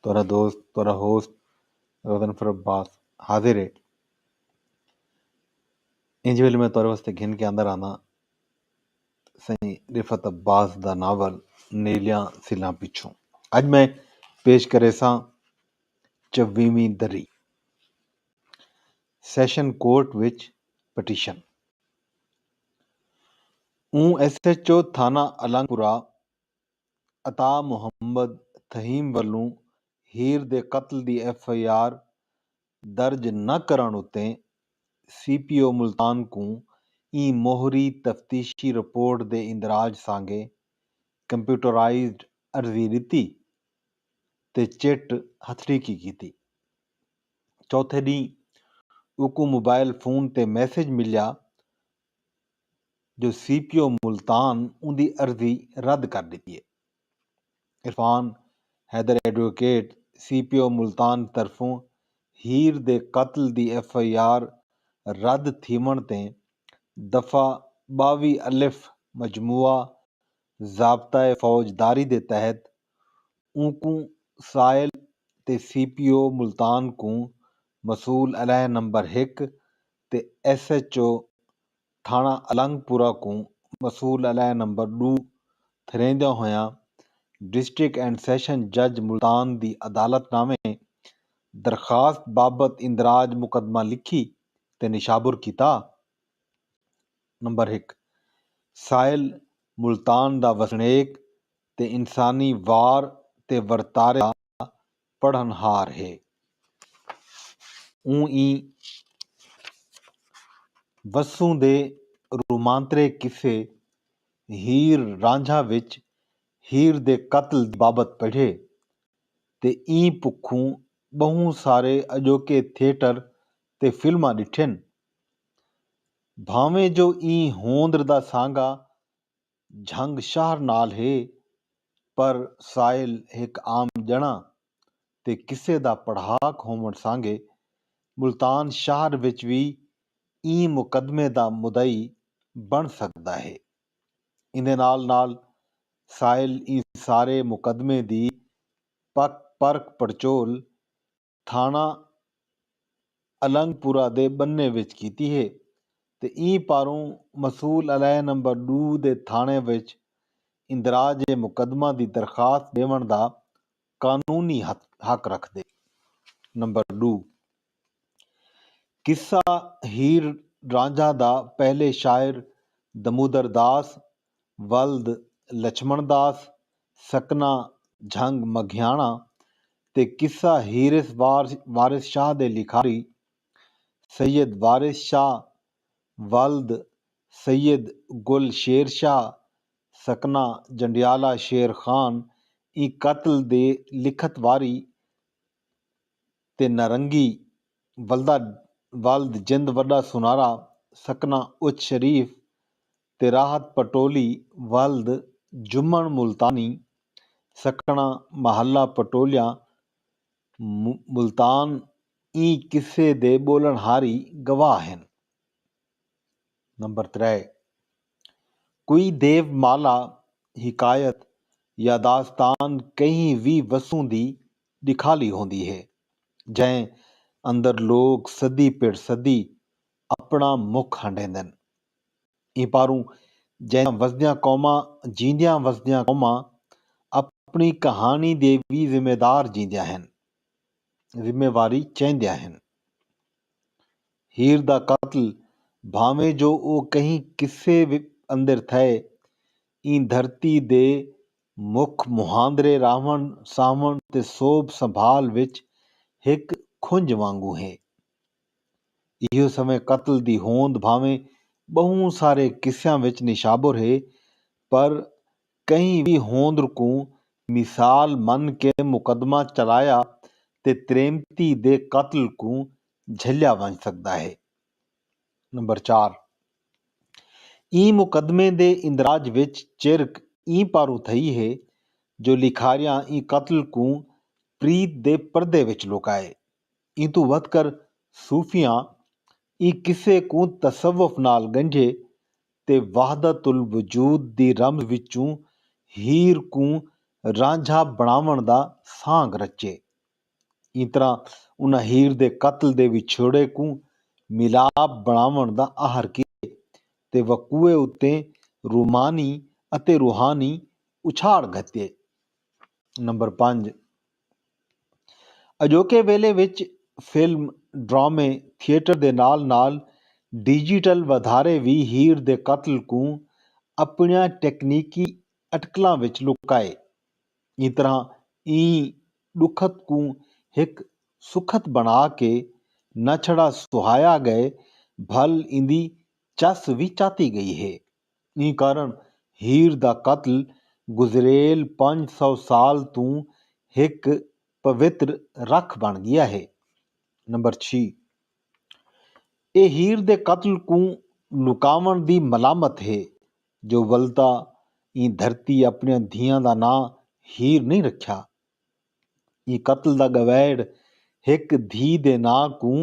تہاݙا دوست تہاݙا ہوسٹ غضنفر عباس حاضر ہے۔ انج ویلھے میں تہاݙے واسطے گھن کے آندا رہنداں سئیں رفعت عباس دا ناول نیلیاں سلاں پچھوں۔ اڄ میں پیش کریساں چویہویں دری، سیشن کورٹ وچ پٹیشن۔ اوں ایس ایچ او تھانہ الانگ پورہ عطا محمد تھہیم ولوں ہیر دے قتل دی ایف آئی آر درج نہ کرݨ اتے سی پی او ملتان کوں ایں موہری تفتیشی رپورٹ دے اندراج سانگے کمپیوٹرائزڈ عرضی ݙتی تے چٹ ہتھڑیکی کیتی۔ چوتھے ݙینھ اوکوں موبائل فون تے میسج ملیا جو سی پی او ملتان اوندی عرضی رد کر ݙتی اے۔ Irfan Haider advocate CPO Multan طرفوں ہیر دے قتل دی ایف آئی آر رد تھیوݨ تے دفعہ ٻاویہہ الف مجموعہ ضابطہ فوجداری دے تحت اونکوں سائل تے سی پی او ملتان کوں مسئول علیہ نمبر ہک تے ایس ایچ او تھانہ النگ پورہ کوں مصول علیہ نمبر ݙو تھریندیاں ہوئیاں ڈسٹرکٹ اینڈ سیشن جج ملتان دی عدالت نامے درخواست بابت اندراج مقدمہ لکھی تے نشابر کیتا۔ نمبر ہک سائل ملتان دا وسنیک تے انسانی وار تے ورتارے دا پڑھن ہار ہے۔ اوں ایں وسوں دے رومانترے قصے ہیر رانجھا وچ ہیر دے قتل دی بابت پڑھے تے ایں پکھوں ٻہوں سارے اڄوکے تھیٹر تے فلماں ݙٹھن۔ بھانویں جو ایں ہوندر دا سانگا جھنگ شہر نال ہے پر سائل ہک عام ڄݨا تے قصے دا پڑھاک ہووݨ سانگے ملتان شہر وچ وی ایں مقدمے دا مدعی بݨ سڳدا ہے۔ ایندے نال نال سائل ایں سارے مقدمے دی پک پرکھ پڑچول تھانہ النگ پورہ دے بنھے وچ کیتی ہے تے ایں پاروں مسول علیحدہ نمبر ݙو دے تھاݨے وچ اندراج مقدمہ دی درخواست ݙیوݨ دا قانونی حق رکھدے۔ نمبر ݙو، قصہ ہیر رانجھا دا پہلے شاعر دمودرداس ولد لچھمݨ داس، سکنا جھنگ مگھیاݨاں تے قصہ ہیرث وارث شاہ دے لکھاری سید وارث شاہ ولد سید گل شیر شاہ، سکنا جنڈیالہ شیر خان ایں قتل دے لکھت واری تے نارنگی ولدا ولد جند وݙا سنارا، سکنا اچ شریف تے راحت پٹولی ولد جمن ملتانی سکھڑاں محلہ پٹولیاں ملتان ایں قصے دے ٻولݨ ہاری گواہ ہن۔ نمبر ترے کوئی دیو مالا حکایت یاداستان کہیں وی وسوں دی ݙکھالی ہوندی ہے جئیں اندر لوک صدی پڑ صدی اپݨا مک ہنڈیندن۔ ایں پاروں جیندیاں وسدیاں قوماں جیندیاں وسدیاں قوماں اپݨی کہاݨی دے وی ذمہ دار جیندیاں ہن۔ ذمہ واری چیندیاں ہن۔ ہیر دا قتل بھانویں جو او کہیں قصے اندر تھئے ایں دھرتی دے مک مہاندرے راہوݨ ساہوݨ تے سوبھ سنبھال وچ ہک کھنج وانگوں ہے۔ ایہو سویں قتل دی ہوند بھانویں ٻہوں سارے قصیاں وچ نشابر ہے پر کہیں وی ہوندر کوں مثال من کے مقدمہ چلایا تے تریمتی دے قتل کوں جھلیا ونج سگدا ہے۔ نمبر چار۔ ایں مقدمے دے اندراج وچ چرک ایں پاروں تھئی ہے جو لکھاریاں ایں قتل کوں پریت دے پردے وچ لکائے ایں توں ودھ کر صوفیاں ایں قصے کوں تصوف نال ڳنڈھے تے وحدت الوجود دی رمز وچوں ہیر کوں رانجھا بݨاوݨ دا سانڳ رچے۔ ایں طرح انہاں ہیر دے قتل دے وچھوڑے کوں ملاپ بݨاوݨ دا اہر کیتے تے وقوع اتے رومانی اتے روحانی اچھاڑ گھتے۔ نمبر پنج۔ اڄوکے ویلھے وچ فلم، ڈرامے، تھیٹر دے نال نال ڈیجیٹل ودھارے وی ہیر دے قتل کوں اپنڑیاں ٹیکنیکی اٹکلاں وچ لکائے ایں طرح ایں ڈکھت کوں ہک سکھت بنڑا کے نہ چھڑا سہایا گئے بھل ایندی چس وی چاتی گئی ہے۔ ایں کارن ہیر دا قتل گزریل پنج سو سال توں ہک پوتر رکھ بݨ ڳیا ہے۔ نمبر چھی اے ہیر دے قتل کوں لکاوݨ دی ملامت ہے جو ولدا ایں دھرتی اپݨیاں دھیاں دا ناں ہیر نئیں رکھیا۔ ایں قتل دا ڳویڑ ہک دھی دے ناں کوں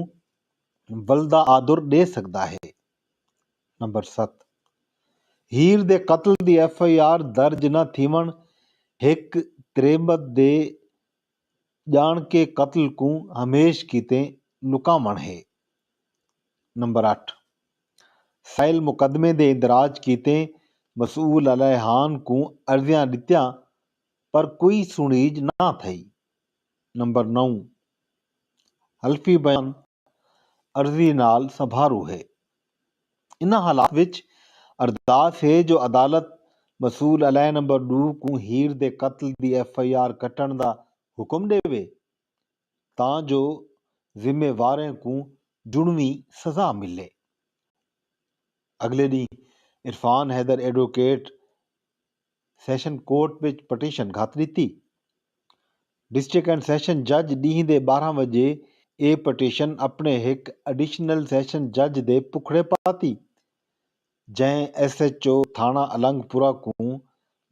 ولدا آدر ݙے سڳدا ہے۔ نمبر ست ہیر دے قتل دی ایف آئی آر درج نہ تھیوݨ ہک تریمت دے ڄاݨکے قتل کوں ہمیش کیتے لکاوݨ ہے۔ نمبر اٹھ سائل مقدمے دے اندراج کیتے مسئول الیحان کوں عرضیاں ݙتیاں پر کوئی سݨیج نہ تھئی۔ نمبر نو حلفی بیان عرضی نال سنبھارو ہے۔ انہاں حالات وچ ارداس ہے جو عدالت مسول علیہ نمبر ݙو کوں ہیر دے قتل دی ایف آئی آر کٹݨ دا حکم ݙیوے تاں جو ذمے واریں کوں جنویں سزا ملے۔ اڳلے ݙینھ Irfan Haider advocate session court وچ پٹیشن گھت ݙتی۔ ڈسٹرکٹ اینڈ سیشن جج ݙینہہ دے ٻارہاں وڄے اے پٹیشن اپݨے ہک ایڈیشنل سیشن جج دے پکھڑے پاتی جئیں ایس ایچ او تھاݨہ النگ پورہ کوں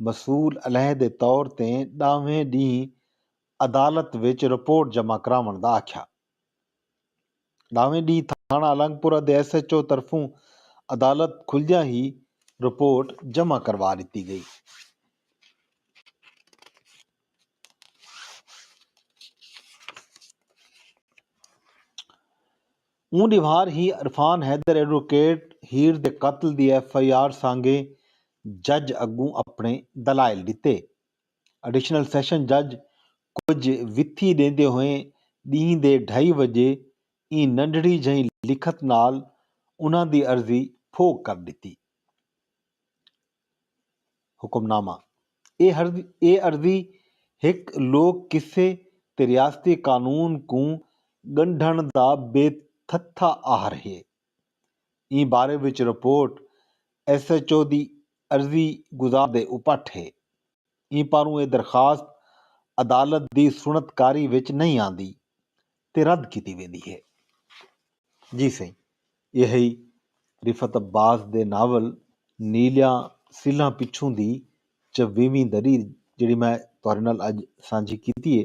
مسئول علیحدہ طور تیں ݙاہویں ݙینہہ عدالت وچ رپورٹ جمع کراوݨ دا آکھیا۔ ݙاہویں ݙینہہ تھاݨہ الانگ پورہ دے ایس ایچ او طرفوں عدالت کھلدیاں ہی رپورٹ جمع کروا ݙتی ڳئی۔ اوں ݙیہوار ہی عرفان حیدر ایڈووکیٹ ہیر دے قتل دی ایف آئی آر سانڳے جج اڳوں اپݨے دلائل ݙتے۔ ایڈیشنل سیشن جج کجھ وتھی ݙیندے ہوئیں ݙینہہ دے ڈھائی وڄے ایں ننڈھڑی جھئیں لکھت نال انہاں دی عرضی پھوک کر ݙتی۔ حکم نامہ، اے عرضی ہک لوک قصے تے ریاستی قانون کوں ڳنڈھݨ دا بے تھتھا آہر ہے۔ ایں بارے وچ رپورٹ ایس ایچ او دی عرضی گزار دے اپٹھ ہے۔ ایں پاروں اے درخواست عدالت دی سنڑت کاری وچ نئیں آندی تے رد کیتی ویندی ہے۔ جی سئیں اے ہئی رفعت عباس دے ناول نیلیاں سلھاں پچھوں دی چویہویں دری جیڑھی میں تہاڈے نال اج سانجھی کیتی ہے۔